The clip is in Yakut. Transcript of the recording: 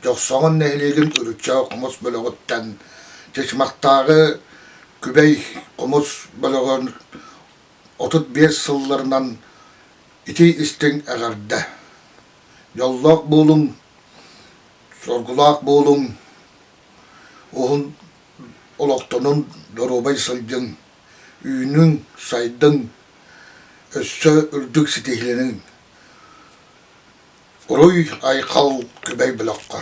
Дьохсоҕон нэһилиэгин Үрүччэ хомус бөлөҕүттэн Чычымахтааҕы Күбэй хомус бөлөҕүн отут биэс сылларынан ити истиҥ эҕэрдэ! Дьоллоох буолуҥ, соргулаах буолуҥ! Уһун олохтонон доруобай сылдьыҥ, үүнүҥ, сайдыҥ, өссө үрдүк ситиһилэниҥ. Уруй Айхал күбэй бөлөххө